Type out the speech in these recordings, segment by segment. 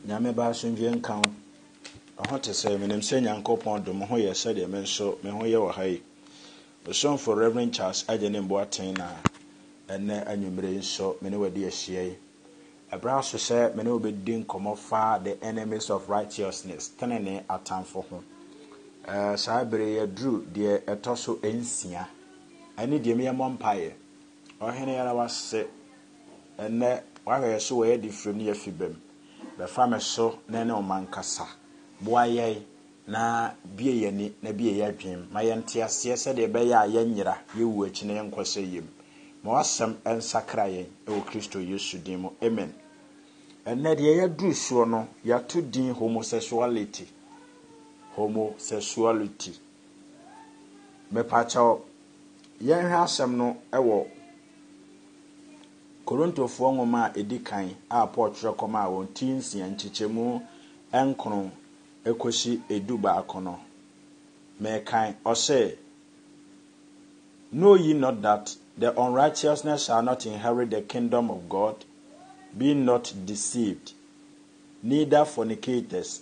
Nyame ba asomdwie nka wo. Ɛho te sɛ, menim sɛ Nyankopɔn dom ho yɛ sɛdeɛ me nso me ho yɛ wɔ ha yi. Osomfo Rev. Charles Agyene Mboateng na ɛnnɛ anwummere yi nso me ne wo adi ahyia yi. Ɛberɛ aso sɛ me ne wo bɛdi nkɔmmɔ fa The Enemies of Righteousness, Tenenee Atamfo ho. Ɛɛ, saa berɛ yi aduru deɛ ɛtɔ so nsia. Ɛne deɛ meyɛ mmɔ mpaeɛ. Ɔhene yɛda wo ase Ɛnnɛ w'ahwɛyɛ so w'ayɛ de firim ne y'afi bam bɛfa me so na ɛne wo ma nkasa boa yɛn na bue y'ani na bue y'adwenem ma yɛnte aseɛ sɛdeɛ ɛbɛyɛ a yɛnyera yɛ wuo akyi na yɛn nkɔ sɛ yɛm ma w'asɛm nsakra yɛn wɔ Kristo Yesu din mu amen Ɛnnɛ deɛ y'aduru soɔ no y'ato din homosexuality homosexuality mepaakyɛw yɛnhwɛ asɛm no wɔ Korintofoɔ nwoma a ɛdi kan a Paul twerɛ kɔmaa wɔn ti nsia nkyekyɛmu nkron kɔsi edu baako no, mekan, ɔse, Know ye not that the unrighteousness shall not inherit the kingdom of God? Be not deceived, neither fornicators,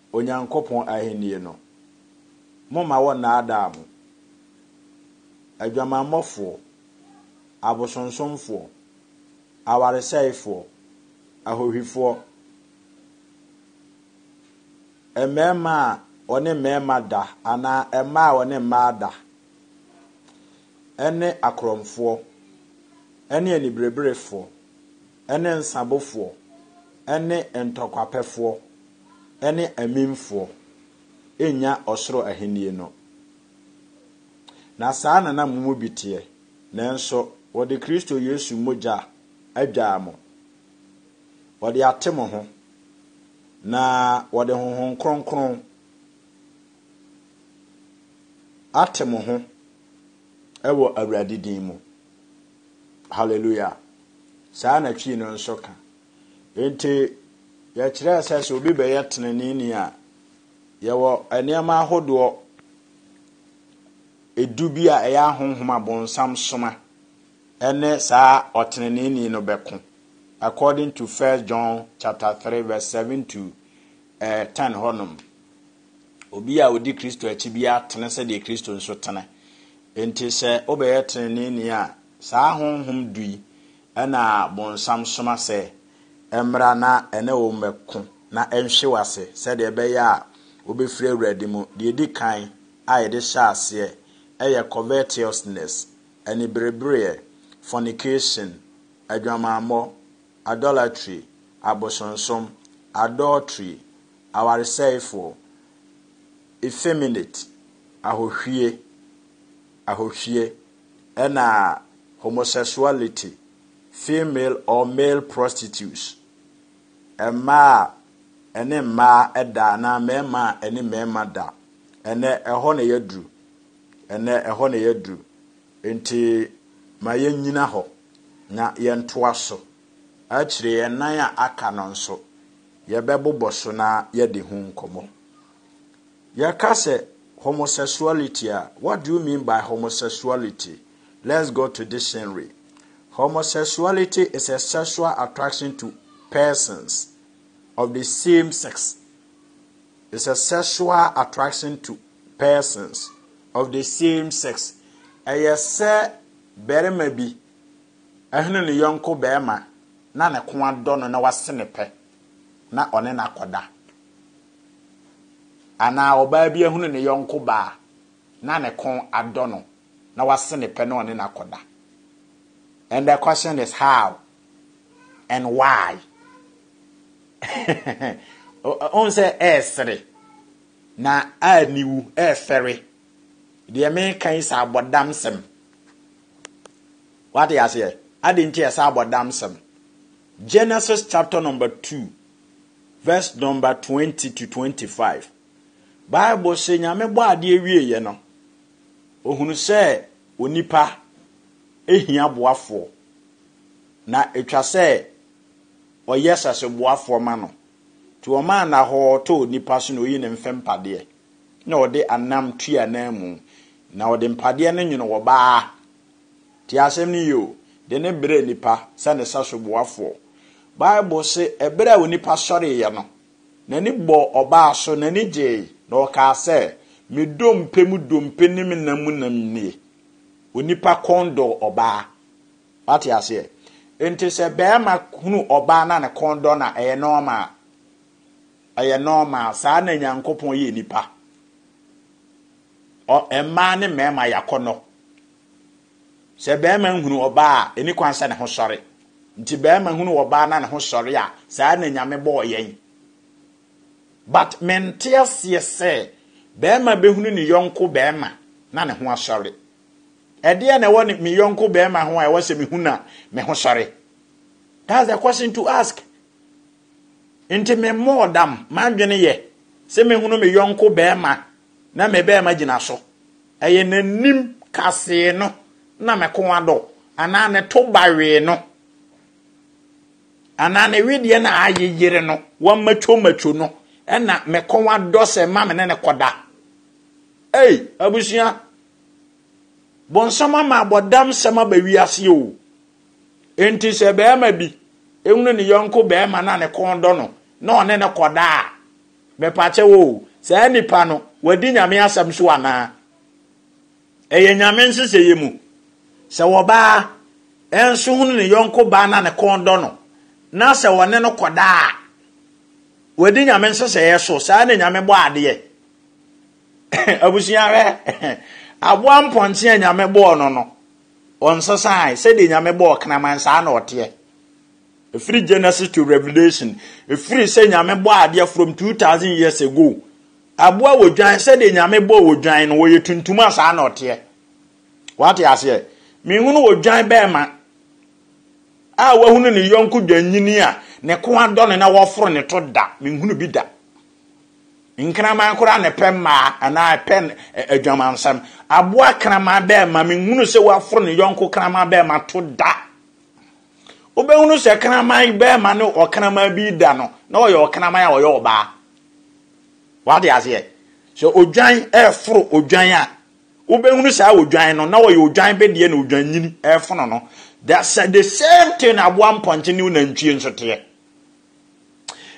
Onyankopɔn Ahenni no. Momma wɔnnaadaa mo. Adwamammɔfoɔ, abosonsomfoɔ, awaresɛefoɔ, ahohwifoɔ, mmarima a wɔne mmarima da anaa mmaa a wɔne mmaa da, ne akorɔmfoɔ, ne anibereberefoɔ, ne nsabofoɔ, ne ntɔkwapɛfoɔ. ne amimfoɔ nnya ɔsoro ahennie no. Na saa na na mo mu bi teɛ, nanso wɔde Kristo Yesu mogya adwaa mo, wɔde ate mo ho, na wɔde Honhom Kronkron ate mo ho wɔ Awurade din mu. Hallelujah! Saa na Twi no nso ka. Enti, yɛkyerɛɛ sɛ sɛ obi bɛyɛ teneneeni a, yɛwɔ nneɛma ahodoɔ edu bi a ɛyɛ ahonhom abonsam soma ɛne saa ɔteneneeni no bɛko according to First John chapter three verse seven to eh, ten hɔnom. Obi a odi Kristo akyi bi atene sɛdeɛ Kristo nso tene. Enti sɛ wobɛyɛ teneneeni a, saa honhom du yi Ɛnna bonsam soma sɛ, Mmra na ɛne wo mmɛko, na ɛnhwe wo ase, sɛdeɛ ɛbɛyɛ a wobɛfiri Awurade mu. Deɛ ɛdi kan a yɛde hyɛ aseɛ yɛ covetousness, aniberebereɛ, fornication, adwamammɔ, idolatry, abosonsom, adultery, awaresɛefoɔ, effeminate, ahohwie, ahohwie, ɛna homosexuality, female or male prostitutes, mmaa a ɛne mmaa da anaa mmarima a ɛne mmarima da. Ɛnɛ ɛhɔ na yɛaduru. Ɛnɛ ɛhɔ na yɛaduru. Nti ma yɛnnyina hɔ na yɛntoa so. Akyire yɛn nan a aka no nso, yɛbɛbobɔ so na yɛadi ho nkɔmmɔ. Yɛka sɛ homosexuality a, what do you mean by homosexuality? Let's go to dictionary. Homosexuality is a sexual attraction to persons of the same sex. It's a sexual attraction to persons of the same sex. Ɛyɛ sɛ barima bi ɛhene ne yɔnko barima na ne ko adɔ no na wase ne pɛ. na ɔne no akɔda. Anaa ɔbaa bi ahunu ne yɔnko baa na ne kɔn adɔ no na wase ne pɛ na ɔne no akɔda. And the question is how and why? Ɔhu sɛ ɛresere na a niwu ɛrefɛre. Deɛ meka yi sɛ abɔdamsɛm. Wate aseɛ? Adɛn nti a ɛsɛ abɔdamsɛm? Genesis chapter number two verse number twenty to twenty-five. Bible sɛ Nyame bɔ adeɛ wieeɛ no, ohunu sɛ onipa ehia boafoɔ na etwa sɛ ɔyɛ saseboafoɔ ma no. Nti ɔmaa nahɔɔ tɔɔ onipa so na oyi ne mfɛmpadeɛ. na ɔde anam tui ananmu, na ɔde mpadeɛ no nwono ɔbaa. Tie asɛm no yie o, de no brɛ nnipa sɛ ne saso boafoɔ. Bible se ɛberɛ a onipa sɔreeɛ no, n'ani bɔɔ ɔbaa so, n'ani gyee, na ɔkaa sɛ, Me dompe mu dompe ne me nam mu nam nie. Onipa kɔn dɔɔ ɔbaa. Wate aseɛ? Enti sɛ barima hunu ɔbaa na ne kɔn dɔ no a, ɛyɛ nɔɔma. Ɛyɛ normal saa na Nyankopɔn yɛ nipa. Ɔ mmaa ne mmarima yɛ akɔnnɔ. Sɛ barima nhunu ɔbaa a, ɛni kwan sɛ ne ho sɔre. Nti barima hunu ɔbaa na ne ho sɔre a, saa na Nyame bɔɔ yɛn. But mente aseɛ sɛ barima bɛhunu ne yɔnko barima na ne ho asɔre. Ɛdeɛn na ɛwɔ ne me yɔnko barima ho a ɛwɔ sɛ mehu na me ho sɔre? That's the question to ask. Enti memmɔɔ dam. M'adwene yɛ sɛ mɛhunu me yɔnko barima na me barima gyina so. Ɛyɛ n'anim kasee no na me kɔn adɔ, anaa ne to bawee no, anaa ne wedeɛ no a ayeyere no, wɔamatwomatwo no, na me kɔn adɔ sɛ ma me ne no kɔda. Ei, abusua! Bonsam ama abɔdamsɛm aba wiase o. Enti sɛ barima bi hunu ne yɔnko barima na ne kɔn dɔ no na ɔne no kɔda a, mepakyɛ wo, saa nipa no, wadi nyame asɛm so anaa? Ɛyɛ nyame nsesɛeɛ mu. Sɛ wɔbaa nso hunu ne yɔnko baa na ne kɔn dɔ no, na sɛ ɔne no kɔda a, wadi nyame nsesɛeɛ so, saa na nyame bɔ adeɛ. Abusua hwɛ, aboa mpɔnkye a nyame bɔɔ no no, Ɔnsesae. Sɛdeɛ Nyame bɔɔ kraman saa na ɔteɛ. Ɛfiri Genesis to Revelation. Ɛfiri sɛ Nyame bɔɔ adeɛ from 2000 years ago. Aboa wɔ dwan sɛdeɛ Nyame bɔɔ odwan no ɔyɛ tuntum a saa na ɔteɛ. Wate aseɛ? Menhunu odwan bɛɛma a wahunu ne yɔnko dwanyini a ne ko adɔ no na wɔforo ne to da. Menhunu bi da. Nkraman koraa na ɛpɛ mmaa anaa ɛpɛ adwamansɛm. Aboa kraman bɛrima, menhunu sɛ waforo ne yɔnko kraman bɛrima to da. Wobɛhunu sɛ kraman bɛrima ne ɔkraman bi da no, na ɔyɛ ɔkraman a ɔyɛ ɔbaa. Wade aseɛ? Sɛ odwan ɛforo odwan a, wobɛhunu saa odwan no, na ɔyɛ odwan bedeɛ na odwan nyini ɛfono no. The same thing aboa mpɔnkye ne nantwie nso teɛ.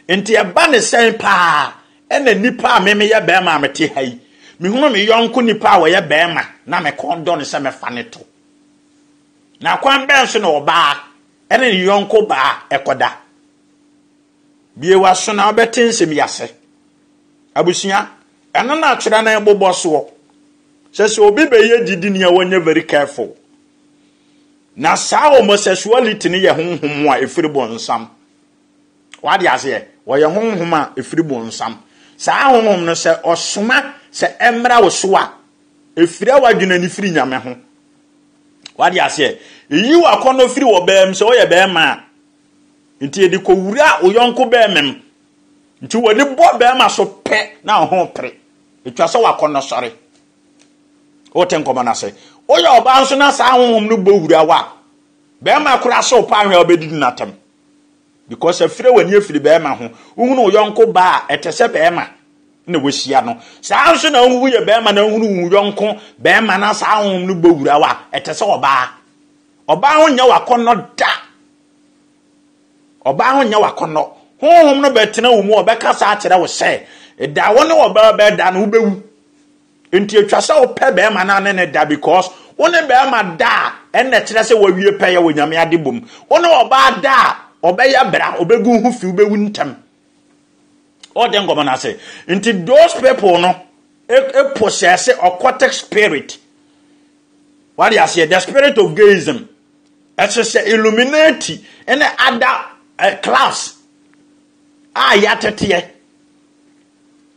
Enti ɛba ne sɛn paa ɛna nnipa a me meyɛ bɛrima a mete ha yi, mehunu me yɔnko nipa a ɔyɛ bɛrima na me kɔn dɔ no sɛ mɛfa ne to. Na kwan bɛn so na ɔbaa ɛne ne yɔnko baa ɛkɔda? Bie w'aso na wobɛte nsɛm yi ase. Abusua, ɛno na atwerɛ no bobɔ soɔ. Sɛ sɛ obi bɛyɛ gyidini a wɔnyɛ very careful. Na saa homosexuality no yɛ honhom a ɛfiri bonsam. Wade aseɛ? Wɔyɛ honhom a ɛfiri bonsam. Saa honhom no sɛ ɔsoma sɛ ɛmmra wo so a, ɛfira w'adwene ani firi Nyame ho. Wade aseɛ? Ɛyi w'akɔnnɔ firi wɔ bɛɛm sɛ ɔyɛ bɛɛma a. Nti ɛde kɔwura wo yɔnko bɛɛmam. Nti wɔde bɔ bɛɛma so pɛ na ɔho pere. Ɛtwa sɛ w'akɔnnɔ sɔre. Wote nkɔmmɔ no ase. Woyɛ ɔbaa nso na saa honhom no bɔ hura wo a, bɛrima koraa sɛ wo paa hwɛ a wobɛdidi no atɛm. Because afire w'ani afiri bɛrima ho. Wohunu wo yɔnko baa a, ɛte sɛ bɛrima na wahyia no. Saa nso na wohu woyɛ bɛrima na wohunu wo yɔnko bɛrima na saa honhom no bɔ hura wo a, ɛte sɛ ɔbaa. Ɔbaa ho nyɛ w'akɔnnɔ da. Ɔbaa ho nyɛ w'akɔnnɔ. Honhom no bɛtena wo mu, ɔbɛkasa akyerɛ wo sɛ, da wo ne ɔbaa bɛda no, wobɛwu. Nti ɛtwa sɛ wopɛ bɛrima no a ne ne da because wo ne bɛrima da a, ɛnna ɛkyerɛ sɛ woawie pɛyɛ wɔ Nyame adebɔ mu. Wo ne ɔbaa da a, ɔbɛyɛ bra, ɔbɛgu ho fi, wobɛwu ntɛm. Ɔde nkɔmmɔ no ase. Nti those people no possess occultic spirit. Wade aseɛ, the spirit of gayism. Ɛsɛ sɛ Illuminati ne ada eh, class a yɛateteɛ.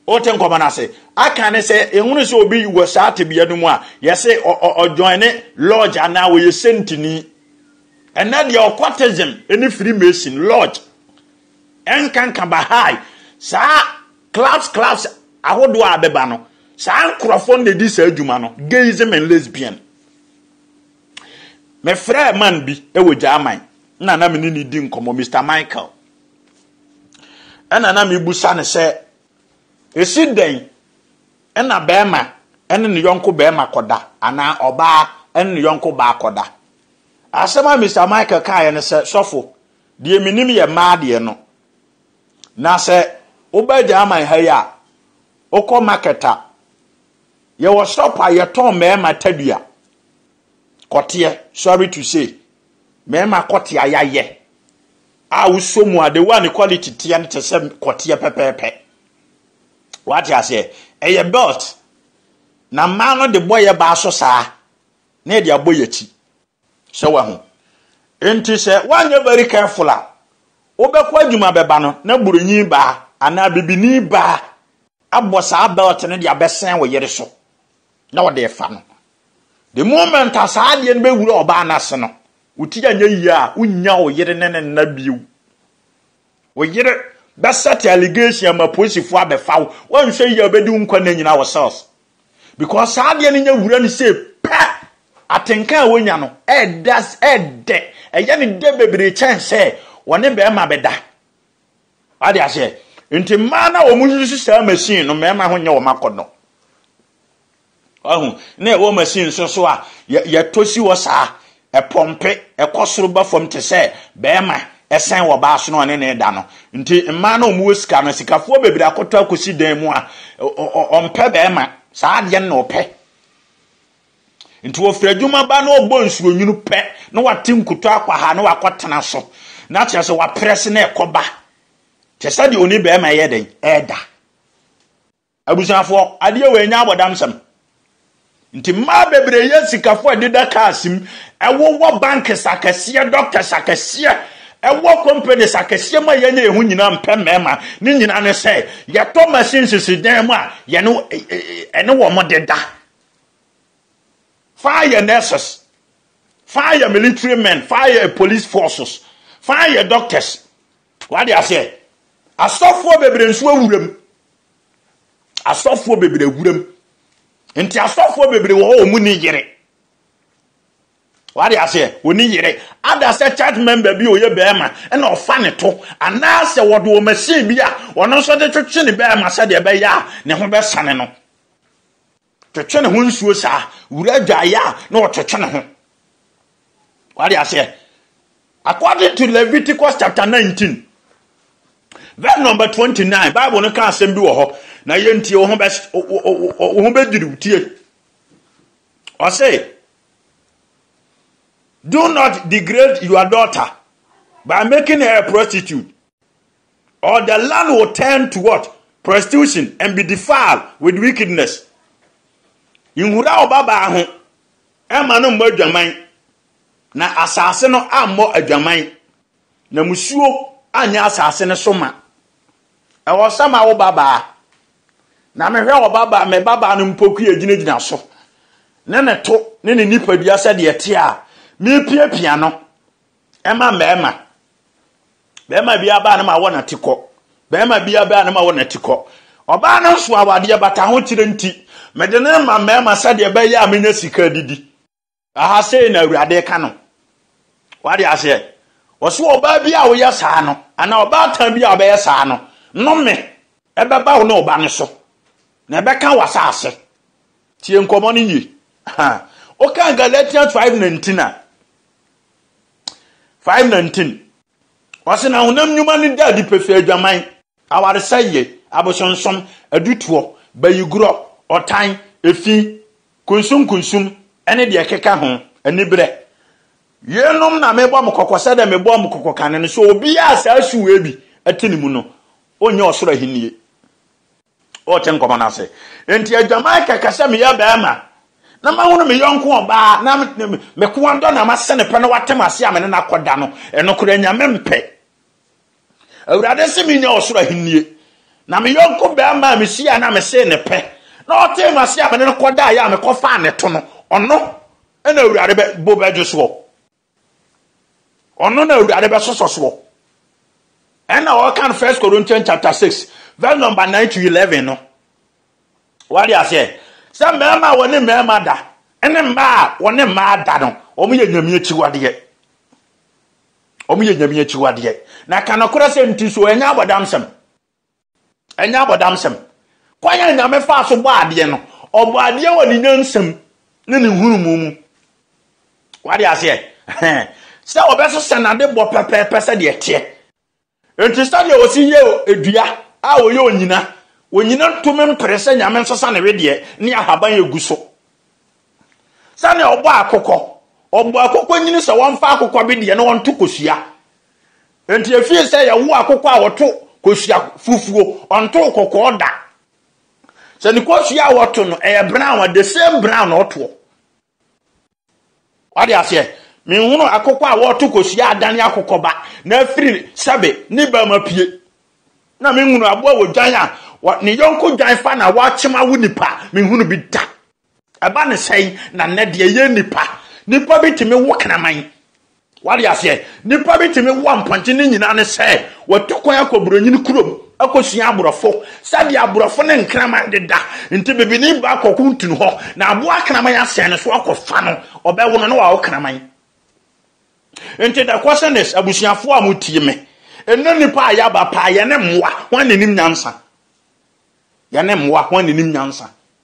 Wote nkɔmɔ no ase. Aka ne sɛ ehunu sɛ obi wɔ saa tebea no mu a, yɛse ɔjoin ne lodge anaa wɔyɛ sentini. Ɛnɛ deɛ occultism ne Freemason lodge ɛnkanka Baha'i saa clubs clubs ahodoɔ a bɛba no saa nkurɔfoɔ na ɛdi saa adwuma no gayism and lesbian Mefrɛɛ man bi wɔ Gyaman na na me ne no di nkɔmmɔ, Mister Michael. Ɛna na mebusa no sɛ, ɛsi dɛn na bɛrima ne ne yɔnko bɛrima kɔda anaa ɔbaa ne ne yɔnko baa kɔda? Asɛm a Mister Michael kaeɛ no sɛ, sɔfo, deɛ menim yɛ mmaa deɛ no, na sɛ woba Gyaman ha yi a, wokɔ market a, Yɛwɔ shop a yɛtɔn mmarima tadua, kɔteɛ, sorry to say, mmarima kɔteɛ a yɛayɛ a wosɔ mu a the way a ne quality teɛ no te sɛ kɔteɛ pɛpɛɛpɛ. Wate aseɛ? Ɛyɛ belt na mmaa no de bɔ yɛ baa so saa na yɛde abɔ yɛn akyi. So wahu? Enti sɛ woanyɛ very careful a, wobɛkɔ adwuma bɛba no na Buronyi baa anaa Bibini baa abɔ saa belt no de abɛsɛn wo yere so na ɔde refa no. The moment a saa adeɛ no bɛwura ɔbaa no ase no, wo ti anyɛ yie a, wonnya wo yere ne ne nna bio. Wo yere bɛsɛte allegation ama polisifo abɛfa wo. Woanhwɛ yie a obedi wo nkwa nna nyinaa wɔ cells. Because saa adeɛ no nya wura no sei pɛ, atenka a wonya no ɛɛda ɛɛdɛ. Ɛyɛ no dɛ bebree kyɛn sɛ wɔne barima bɛda. Wate aseɛ? Nti mmaa no a wɔn yusu saa machine no, mmarima ho nyɛ wɔn akɔnnɔ. Wahu? Na ɛwɔ machine nso so a yɛtɔ si hɔ saa, ɛpɔmpe, ɛkɔ soro ba fam te sɛ bɛrima ɛsɛn wɔ baa so na ɔne ne da no. Nti mmaa na wɔwɔ sika no, sikafoɔ bebree akɔtɔ akɔsi dan mu a ɔmpɛ bɛrima, saa adeɛ no na ɔpɛ. Nti wɔfiri adwuma ba na ɔbɔ nsuonwunu pɛ na wate nkuto akwaha na wakɔtena so na kyerɛ sɛ waprɛse na ɛkɔba te sɛ deɛ ɔne bɛrima yɛ dɛn ɛda. Abusuafoɔ, adeɛ wei nyɛ abɔdamsɛm. Nti mmaa bebree yɛ sikafo ɛdeda cars mu, ɛwowɔ banks akɛseɛ, doctors akɛseɛ, ɛwɔ companies akɛseɛ mu a yɛnyɛ yɛn ho nyinaa mpɛ mmarima. Ne nyinaa ne sɛ yɛtɔ machines si dan mu a yɛne ɛne wɔn deda. Fa yɛ nurses, fa yɛ military men, fa yɛ police forces, fa yɛ doctors, W'ate aseɛ? Asɔfoɔ bebree nso awura mu. Asɔfoɔ bebree awura mu. Nti asɔfoɔ bebree wɔ hɔ wɔn ni yere. W'ate aseɛ? Wɔni yere. Ada sɛ church member bi a ɔyɛ bɛrima ɛna ɔfa ne to anaasɛ wɔde wɔ machine bi a ɔno nso de twetwe ne bɛrima sɛdeɛ ɛbɛyɛ a ne ho bɛsane no. Twetwe ne ho nsuo saa. Wura adwaeɛ a, na ɔtwetwe ne ho. Wade aseɛ? According to Leviticus chapter 19, verse number 29, Bible no ka asɛm bi wɔ hɔ. Na yɛntie wo ho bɛdwiriw tie. Ɔse, do not degrade your daughter by making her a prostitute. Or the land will turn to what? Prostitution and be defiled with wickedness. Nhura wo babaa ho, ɛmma no mmɔ adwaman, na asase no ammɔ adwaman, na musuo anyɛ asase no so ma. Ɛwɔ sɛ ma wo babaa, na mehwɛ wɔ babaa, me babaa no mpoku yɛ gyinagyina so, ne ne to, ne ne nipadua sɛdeɛ ɛteɛ a, mepiapia no. Ɛma mmarima. Barima bi aba no ma wɔ n'ate kɔ. Barima bi aba no ma wɔ n'ate kɔ. Ɔbaa no nso awadeɛ bata ho kyerɛ nti, mede no ma mmarima sɛdeɛ ɛbɛyɛ a menya sika didi. Aha sei na Awurade ka no. Wade aseɛ? Ɔso ɔbaa bi a woyɛ saa no, anaa ɔbaatan bi a ɔbɛyɛ saa no, nnome ɛbɛba wo ne ɔba no so, na ɛbɛka w'asaase. Tie nkɔmmɔ no yie. Woka Galatians 5:19 a, Five nineteen. Ɔse na honam nnwuma no da adi pefee adwaman, awaresɛeɛ, abosonsom, adutoɔ, bayigorɔ, ɔtan, efi, kunsunkunsum, ne deɛ ɛkeka ho, aniberɛ. Yeinom na mebɔ mo kɔkɔ sɛdeɛ mebɔɔ mo kɔkɔ kane no, sɛ obiara a saa su wei bi te ne mu no, ɔnnya ɔsoro ahennie. Wɔrete nkɔmmɔ no ase. Enti adwaman kɛkɛ sɛ meyɛ barima na mahunu me yɔnko ɔbaa na me ko adɔ na mase ne pɛ na wate m'ase a me ne no akɔda no, ɛno koraa Nyame mpɛ. Awurade se menya ɔsoro ahennie. Na me yɔnko barima a mehyiaa na mesee ne pɛ na ɔtee m'ase a me ne no kɔdaeɛ a mekɔfaa ne to no, ɔno na Awurade bo bɛdwo soɔ. Ɔno na Awurade bɛsosɔ soɔ. Ɛna ɔka no First Corinthians chapter six verse number nine to eleven no. Wade aseɛ sɛ mmarima a wɔne mmarima da ɛne mmaa a wɔne mmaa da no, wɔn yɛ nyame akyiwadeɛ. Wɔn yɛ nyame akyiwadeɛ. Na ka nokorɛ sɛ nti so ɛnyɛ abɔdamsɛm. Ɛnyɛ abɔdamsɛm. Kwan a Nyame faa so bɔɔ adeɛ no, ɔbɔɔ adeɛ wɔ ne nyansam ne ne nhunumu mu. Wade aseɛ? Ɛhɛn. Sɛ ɔbɛso sɛ nade bɔ pɛpɛɛpɛ sɛdeɛ ɛteɛ. Enti sɛdeɛ ɔsi yɛ dua a ɔyɛ onyina, onyina ntumi mpere sɛ Nyame nsesa ne wedeɛ ne ahaban ɛgu so. Sɛdeɛ ɔbɔɔ akokɔ, ɔbɔɔ akokɔ nyini sɛ wɔmfa akokɔ bedeɛ na wɔnto kosua. Enti efii sɛ yɛwo akokɔ a wɔto kosua fufuo, ɔntoo kɔkɔɔ da. Sɛ ne kosua a wɔto no ɛyɛ brown a, the same brown na ɔtoɔ. Wade aseɛ? Menhunu akokɔ a wɔto kosua adane akokɔba na afiri sɛbe ne ba mu apue. Na menhunu aboa wɔ dwan a ne yɔnko dwan fa na wɔakyem awo nipa. Menhunu bi da. Ɛba ne sɛn na nnɛ deɛ yɛn nnipa, nnipa bi tumi wo kraman. Wade aseɛ, nnipa bi tumi wo ampɔnkye ne nyinaa ne sɛ wɔtu kwan akɔ buronyini kurom akɔsua aborɔfo sɛdeɛ aborɔfo ne nkraman deda nti bibini ba akɔko ntini hɔ na aboa kraman asɛn ne so akɔfa no ɔbɛwo no na wawo kraman nti the question is abusuafoɔ a motie me ɛnɛ nnipa a yɛaba paa yɛne mmoa ho anenim nyansa yɛne mmoa ho anenim nyansa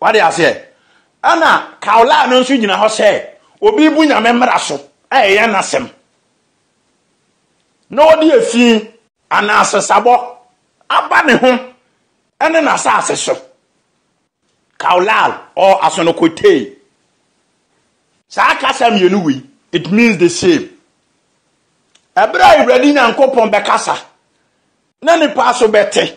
Wate aseɛ? Ɛna Kaulaa no nso gyina hɔ sɛ obi rebu Nyame mmara so a ɛyɛ n'asɛm na ɔde efi anaa sesabɔ aba ne ho ne n'asase so. Kaulal or Asonokotee. Saa kasa mmienu wei, it means the same. Ɛberɛ a Awurade Nyankopɔn bɛkasa na nipa so bɛte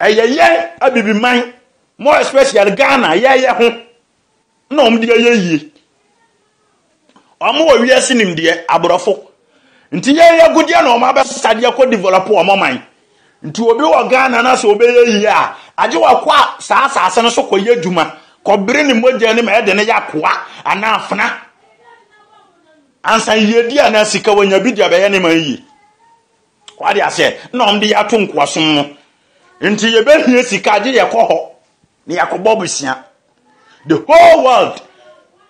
Ɛyɛ yɛn abibiman, more especially Ghana, yɛyɛ ho na wɔn de ayɛ yie. Wɔn wɔ wiase nimdeɛ, aborɔfo. Nti yɛyɛ agudeɛ na wɔn abɛsesa deɛ kɔ develop wɔn ɔman. Nti obi wɔ Ghana na sɛ ɔbɛyɛ yie a, agye wakɔ a saa asase no so kɔyɛ adwuma, kɔbere ne mogya ne ma ɛde no yɛ akoa anaa afena. Ansa yiedie anaa sika wanya bi de abɛyɛ ne man yie. Wate aseɛ? Na wɔn de yɛ ato nkoasom mu. Nti yɛbɛhia sika agye yɛkɔ hɔ na yɛakɔbɔ bosea. The whole world.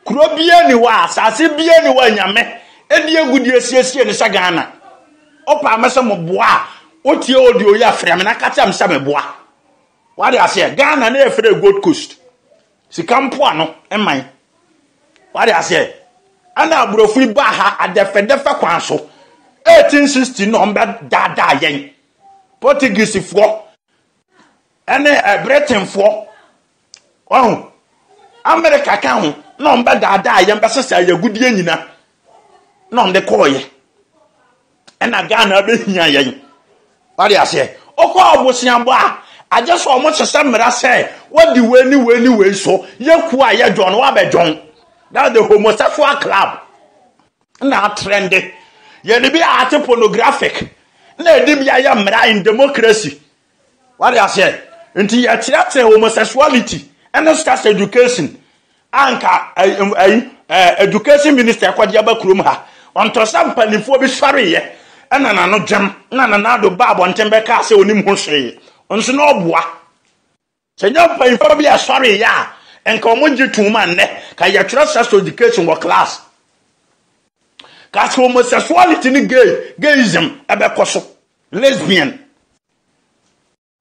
Kuro biara ni hɔ a, asase biara ni hɔ a Nyame ɛde agudie asiesie no sɛ Ghana. Ɔpaa mɛ sɛ mo boa a, wotie audio yi a frɛ me na ka kyerɛ me sɛ me boa. Wate aseɛ? Ghana na yɛfrɛ Gold Coast. Sika mpoano man. Wate aseɛ? Ɛna aborɔfo yi baa ha adɛfɛdɛfɛ kwan so. 1860 na wɔbɛdaadaa yɛn. Portuguesefoɔ ɛne eh, Britainfoɔ, ɔho, Amerika ka ho, na wɔbɛdaadaa yɛn bɛsesa yɛn agudeɛ nyina na wɔde kɔɔyɛ. ɛna Ghana bɛhia yɛn wade aseɛ wokɔ aboseabɔ a agye sɛ ɔmo hyehyɛ mmara sɛ wadi wei ne wei ne wei so yɛku a yɛ dwɔn wabɛdwɔn that's the homosexual club na atrɛnde yɛde bi a ate pornographic na ɛde bi ayɛ mmara in democracy Wate aseɛ? Nti yɛkyerɛkyerɛ homosexuality ne sex education anka ayi education minister ɛkɔde aba kurom ha ɔntɔ sɛ mpanimfoɔ bi sɔreeɛ ɛna nano dwam na nanado ba abɔnten bɛkaa sɛ onim ho hwee nso na ɔboa Sɛ nyɛ mpanyimfo bi a ɛsɔre yɛ a, nka wɔn gye toom a nnɛ ka yɛ twerɛ sex education wɔ class. Ka sɛ homosexuality ne gay, gayism ɛbɛkɔ so, lesbian.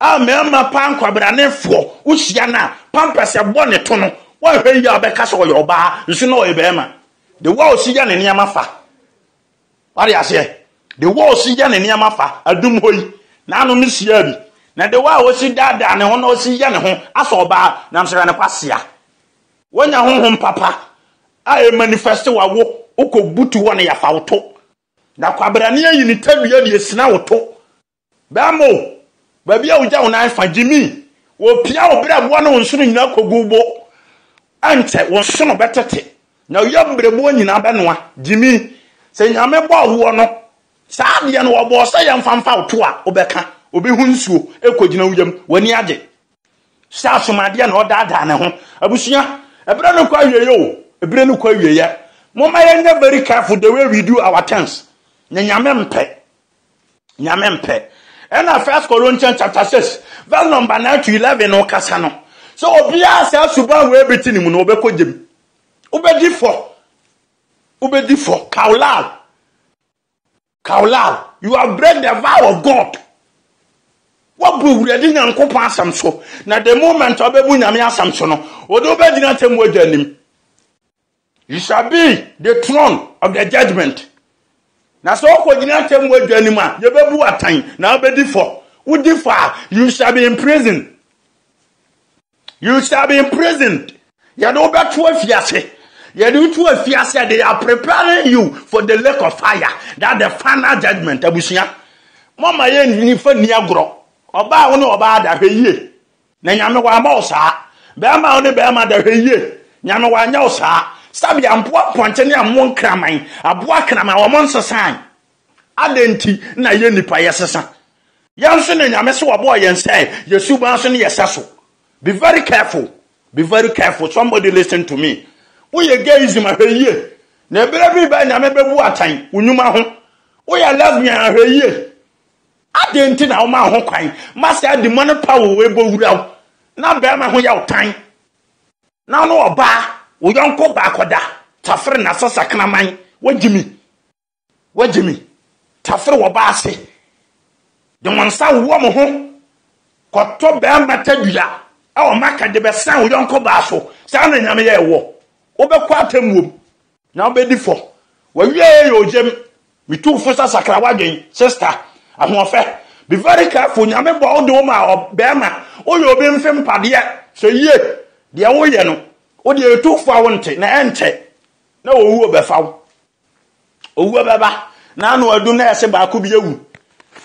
A mmarima paa nkwabranefoɔ wohyia no a pampers ɛbɔ ne to no woanhwɛ yie a ɔbɛka sɛ ɔyɛ ɔbaa nso na ɔyɛ barima. The way a ɔsi yɛ ne nneɛma fa. Wate aseɛ? De wɔ ɔsi yɛ ne nneɛma fa adum hɔ yi, n'ano ne siaa bi, na de wɔ a ɔsi daadaa ne ho na ɔsi yɛ ne ho asɔ ɔbaa nam so yɛ no kwasea. Woanya honhom papa a ɛmanifɛste w'awo, wokɔ butu hɔ na yɛafa wo to, na kwabrane ayi ne tadua de asina wo to. Bɛmmo! Baabi a wogya wo nan fa, gyimi! Wopia wo berɛboɔ ne wo nsono nyinaa kɔgu bo. Ɛnkyɛ, wo nsono bɛtete, na wo yam berɛboɔ nyinaa bɛnoa. Gyimi! Sɛ Nyame bɔɔ woɔ no, saa adeɛ no Ɔbɔɔ sɛ yɛmfa mfa wo to a, wobɛka? Wobɛhu nsuo ɛrekɔgyina wo yam, w'ani agye. Sɛ asomadeɛ na ɔdaadaa ne ho. Abusua, ɛberɛ no kɔ awieɛ o, ɛberɛ no kɔ awieɛ. Momma yɛnyɛ very careful the way we do our things. Nyɛ Nyame mpɛ. Nyame mpɛ. Ɛna First Corinthians chapter 6 verse number 9 to 11 no kasa no. Sɛ obiara saa suban wei bi te ne mu no ɔbɛkɔ gyem. Wobɛdi fɔ. Wobɛdi fɔ. Kaulal. Kaulal. You have break the vow of God. Wabu awurade nyankopɔn asɛm so. Na the moment ɔbɛbu nyame asɛm so no, ɔde wobɛgyina tɛmu agya anim. He shall be the throne of the judgment. Na sɛ ɔkɔgyina atemmu adwa anim a, yɛbɛbu wo atɛn na wobɛdi fɔ. Wodi fɔ a, you shall be in prison. You shall be imprisoned. Yɛde wo bɛto afiase. Yɛde wo to afiase. They are preparing you for the lake of fire. That the final judgment. Abusua. Mama yɛ nifa ni agorɔ. Ɔbaa wo ne ɔbaa da hwɛ yie. Na Nyame w'ama wo saa. Bɛɛma a wo ne bɛɛma da hwɛ yie. Nyame w'anyɛ wo saa. Sɛbea mpoa mpɔnkye ne ɛmo nkraman, aboa akraman wɔn nsesae. Adɛn nti na yɛ nnipa yɛ sesa? Yɛn nso ne Nyame se wɔbɔɔ yɛn sɛ yɛ suban so ne yɛ sɛ so. Be very careful, be very careful, somebody listen to me. Wo yɛ gayism a hwɛ yie. Na ɛberɛ bi rebɛn Nyame bɛbu atɛn wo nnwuma ho. Wo yɛ lesbian a hwɛ yie. Adɛn nti na womaa ho kwan ma saa demonic power wei bɔ wura wo? Na barima ho yɛ wo tan, na wo ne ɔbaa, wo yɔnko ɔbaa kɔda, tafere na sɛ sakraman, woagyimi, woagyimi, tafere wɔ ɔbaa ase, de wɔn nsa wowɔ mo ho, kɔtɔ barima tadua, ɛwɔ maka de bɛsan wo yɔnko baa so, saa na Nyame yɛɛ woɔ, wobɛkɔ atemmuom, Na wobɛdi fɔ. W'awieɛ yɛ ogyam. Metu wo fo sɛ sakra w'adwen, sister. Ahoɔfɛ. Be very careful, Nyame bɔɔ wo de wo maa ɔbarima. Woyɛ obi mfe mpadeɛ. Hwɛ yie. Deɛ woyɛ no, wo deɛ yɛtu wo fo a wonte, na ɛnkyɛ na owuo bɛfa wo. Owuo bɛba, na ano adu na yɛse baako bi awu.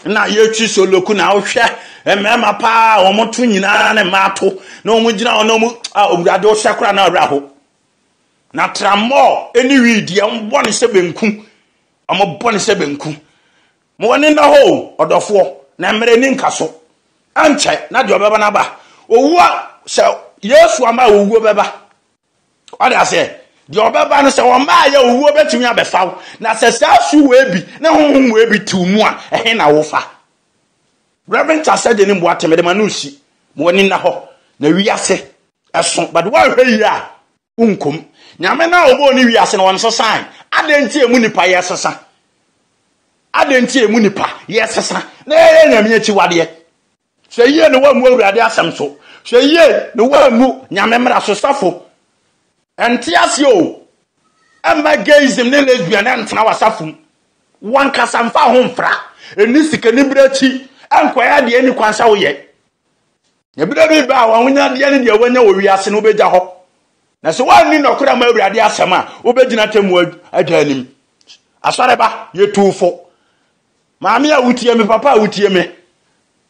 Na yɛtwi soloku, na wohwɛ mmarima paa a wɔto nyinaa ne mmaa to, na wɔgyina hɔ na wɔn, ah, Owurade, wohwɛ koraa na awerɛ ho. Na trammɔɔ ne wiidi, wɔn bɔ ne sɛ benku. Wɔn bɔ ne sɛ benku. Ma wɔn ani nna hɔ o, ɔdɔfoɔ, na mmerɛ ni nka so. Ɛnkyɛ na deɛ ɔbɛba no aba. Owuo sɛ Yesu ama a owuo bɛba. Ɔde aseɛ. Deɛ ɔbɛba no sɛ wɔmmaayɛ owuo bɛtumi abɛfa wo. Na sɛ saa su wei bi ne honhom wei bi tew mu a, ɛhe na wofa? Reverend Tasɛ de ne mmoa te mede ma no resi. Ma wɔn ani nna hɔ. Na wiase Ɛso, but woanhwɛ yie a, wonkom. Nyame no a ɔbɔɔ ne wiase no, ɔnsesae. Adɛn nti a emu nipa yɛsesa? Adɛn nti a emu nipa yɛsesa na yɛyɛ Nyame akyiwadeɛ? Hwɛ yie na woammu Awurade asɛm so. Hwɛ yie na woammu Nyame mmara so. Sɔfo, ɛnte aseɛ o. Ɛmma gayism ne lesbian ɛntena w'asafo mu. W'ankasa mfa wo ho mfra. Ɛnni sikanibere akyi. Ɛnkɔyɛ deɛ ɛnni kwan sɛ woyɛ. Ɛberɛ bi bɛba a w'ahonyadeɛ ne deɛ woanya wɔ wiase no wobɛgya hɔ. Na sɛ woanni nɔkorɛ ma Awurade asɛm a, wobɛgyina atemmuo adwa anim. Asɔre ba, yɛtuu fo. Maame a wotie me, papa a wotie me.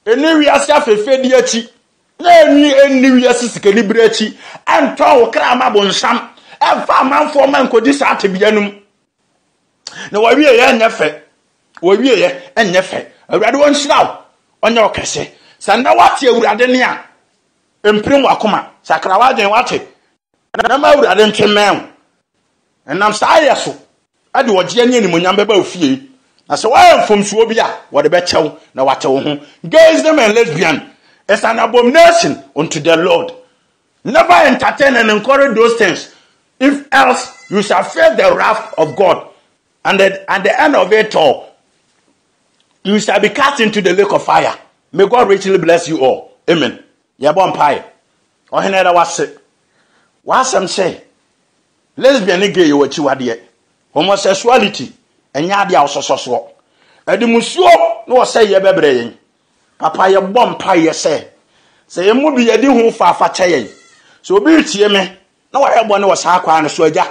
Ɛnni wiase afɛfɛdi akyi, na ɛnni ɛnni wiase sikanibere akyi. Ɛntɔn wo kra ma bonsam. Ɛmfa amanfoɔ ma nkɔdi saa tebea no mu. na wɔawie yɛ nyɛ fɛ wɔawie yɛ nyɛ fɛ awurade wɔn nhyira wo ɔnyɛ wo kɛse sɛ nna wate awurade ne a mpirim wakoma sakra wadwen wate na ma awurade nte mmɛn wo ɛnam saa yɛ so ɛde ɔgyeɛ ne animonyam bɛba wo fie na sɛ woayɛ mfomsoɔ bi a wɔde bɛkyɛ wo na wate wo ho gays them and lesbian is an abomination unto the lord Never entertain and encourage those things if else you shall face the wrath of God and the, at the end of it all you shall be cast into the lake of fire. May God richly bless you all. Amen. Yɛbɔ mpae. Ɔhene da wase. W'asɛm sɛ lesbian ne gay yɛ w'akyiwadeɛ. Homosexuality ɛnyɛ adeɛ a wosɔsɔ soɔ. Ɛde musuo na wɔsɛ yɛ bɛbrɛ yɛn. Papa yɛbɔ mpaeɛ sɛ, sɛ yɛn mu bi yɛde hu faafa kyɛ yɛn. Sɛ obi retie me na wayɛ bɔne wɔ saa kwan no so, Agya,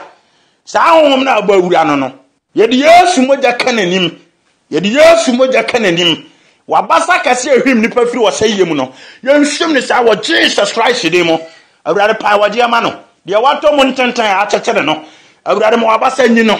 saa honhom no a ɛbɔ awura no no, yɛde Yesu mogya ka n'anim, yɛde Yesu mogya ka n'anim, w'abasa kɛse a ɛhwim nnipa firi ɔsɛeɛ mu no, yɛnhwim no saa wɔ Jesus Christ din mu. Awurade, pae w'agyeɛ ma no, deɛ watɔ mu ntenten a akyekyere no, Awurade, ma w'abasa nyi no,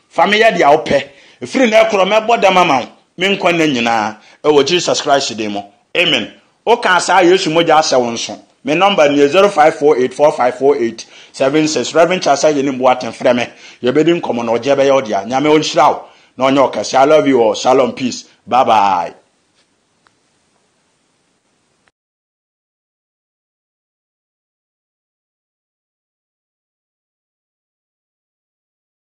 Fa me yɛ deɛ wopɛ. Firi nnɛ rekorɔ mɛbɔ dam ama wo me nkwa nna nyinaa wɔ Jesus Christ din mu. Amen. Wokaa saa a Yesu mogya asɛ wo nso. Me nɔmba nie, zero five four eight four five four eight seven six. Rev Charles Ayenim Boateng frɛ me, yɛbɛdi nkɔmmɔ na ɔgyeɛ bɛyɛ wo dea. Nyame ɔnhyira wo na ɔnyɛ wo kɛseɛ. I love you all. Shalom peace. Bye bye.